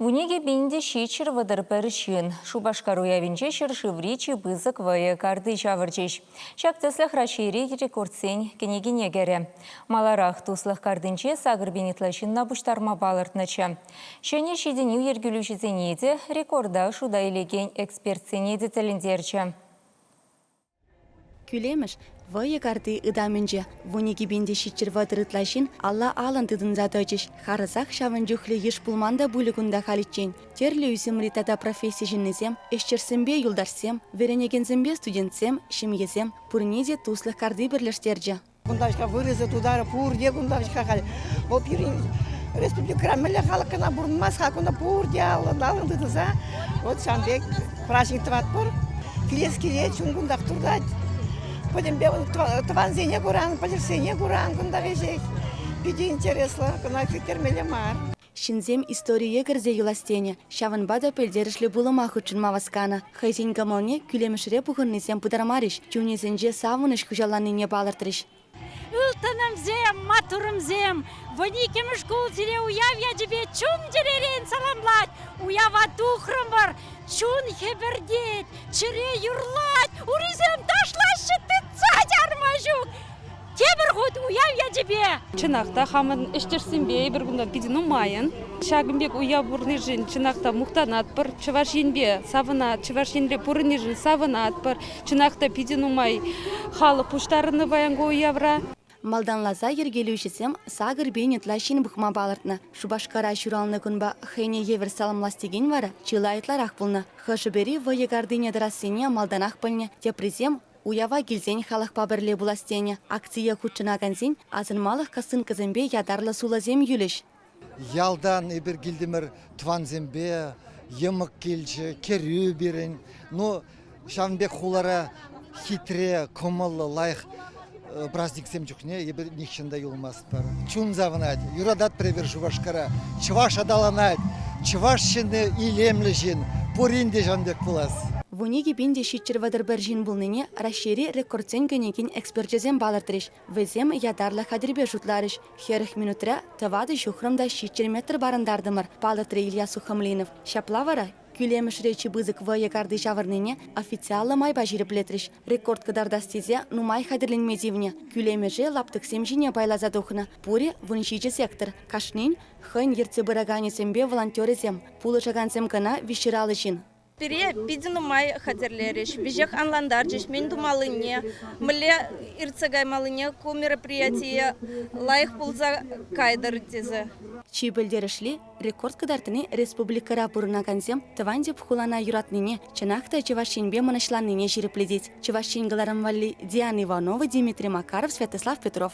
Вуникӗ пин те ҫиччӗр вӑтӑр пӗр ҫын Шупашкар уявӗнче ҫӗршыври чи пысӑк вӑйӑ карти ҫавӑрчӗҫ. Ҫак тӗслӗх Раҫҫейри рекордсен кӗнекине кӗрӗ. Маларах туслӑх картинче сакӑр пин ытла ҫынна пуҫтарма палӑртнӑччӗ. Ҫӗнӗ ҫитӗнӳ йӗркелӳҫӗсене те, рекорда шута илекен экспертсене те тӗлӗнтерчӗ. Кӳлемӗш вӑйӑ карти ытамӗнче вун икӗ пин те ҫиччӗр вӑтӑр ытла ҫын алла-алӑн тытӑнса тӑчӗҫ. Харӑсах ҫавӑн чухлӗ йыш пулман та пулӗ кунта халиччен. Тӗрлӗ ӳсӗмри тата професси ҫыннисем, ӗҫчӗрсемпе юлташсем, вӗренекенсемпе студентсем, ҫемьесем пурне те туслӑх карти пӗрлештерчӗ. Кунташка вырӑсӗ тутарӗ пурте кунташка халь. Вӑл пирӗн республикӑра мӗнле халӑх кӑна пурӑнмасть-ха кунта пурте аллӑн-аллӑн тытӑнса. Вот ҫавӑн пек праҫник тӑватпӑр. Килес килет, чун кунтах туртать. Пӗтӗмпе тӑвансене куран, пӗлӗшсене куран кунта веҫех. Питӗ интереслӗ, кӑна кӗттермелле мар. Ҫынсем историе кӗрсе юлас тенӗ, ҫавӑнпа та пӗлтерӗшлӗ пулӑма хутшӑнма васканӑ. Хӑйсен кӑмӑлне кӳлемӗшре пухӑннисем пытармарӗҫ, чунӗсенче савӑнӑҫ хуҫаланнине палӑртрӗҫ. Ылтӑнӑмсем, маттурӑмсем! Вун иккӗмӗш шкул сире уяв ячӗпе чун-чӗререн саламлать. Уява тухрӑмӑр. Чун хӗпӗртет, чӗре юрлать, урисем ташлаҫҫӗ, тытса чарма ҫук. Тепӗр хут уяв ячӗпе! Чӑнах та хамӑн ӗҫтешсемпе эпир кунта питӗ нумайӑн. Ҫакӑн пек уяв пурӑнишӗн чӑнах та мухтанатпӑр. Чӑваш Енпе савӑнат, Чӑваш Енре пурӑнишӗн савӑнатпӑр. Чӑнах та питӗ нумай халӑх пуҫтарӑннӑ паян ку уявра. Малтанласа йӗркелӳҫӗсем сакӑр пин ытла ҫын пӑхма палӑртнӑ. Шупашкара ҫуралнӑ кунпа хӑйне евӗр саламлас текен вара чылай ытларах пулнӑ. Хӑшӗ-пӗри вӑйӑ картине тӑрассине малтанах пӗлнӗ, теприсем Уява килсен халӑхпа пӗрле пулас тенӗ. Акцие хутшӑнакансен асӑнмалӑх кӑсынкӑсемпе ятарлӑ сулӑсем юлӗҫ. Ялтан эпир килтӗмӗр, тӑвансемпе йӑмӑк килчӗ, кӗрӳ пирӗн. Ну, ҫавӑн пек хулара хитре, кӑмӑллӑ, лайӑх праздниксем чухне эпир нихҫан та юлмасть. Чун савӑнать, юратать пӗрер Шупашкара. Чӑваш аталанать, чӑваш ҫынни илемлӗ ҫын, пурин те ҫавӑн пек пулас. Вун икӗ пин те ҫиччӗр вӑтӑр пӗр ҫын пулнине Раҫҫейри рекордсен кӗнекин эксперчӗсем палӑртрӗҫ. Вӗсем ятарлӑ хатӗрпе шутларӗҫ. Хӗрӗх минутра тӑватӑ ҫухрӑм та ҫиччӗр метр парӑнтартӑмӑр, палӑртрӗ Илья Сухомлинов. Ҫапла вара Кӳлемӗшре чи пысӑк вӑйӑ карти ҫавӑрнине официаллӑ майпа ҫирӗплетрӗҫ. Рекорд кӑтартас тесе нумай хатӗрленме тивнӗ. Кӳлемӗше лаптӑксем ҫине пайласа тухнӑ. Пурӗ вун ҫичӗ сектор. Кашнин хӑйӗн ертсе пыраканӗсемпе волонтерӗсем. Пулӑшакансем кӑна виҫҫӗр алӑ ҫын. Пире питӗ нумай хатӗрлерӗҫ, веҫех анлантарчӗҫ мӗн тумаллине, мӗнле иртсе каймаллине, ку мероприятие лайӑх пулса кайтӑр тесе. Чи пӗлтерӗшли, Рекорд кӑтартни республикӑра пурӑнакансем тӑван тӗп хулана юратнине, чӑнах та Чӑваш Енпе мӑнаҫланнине ҫирӗплетет. Чӑваш Ен кӑларӑм валли Диана Иванова, Дмитрий Макаров, Святослав Петров.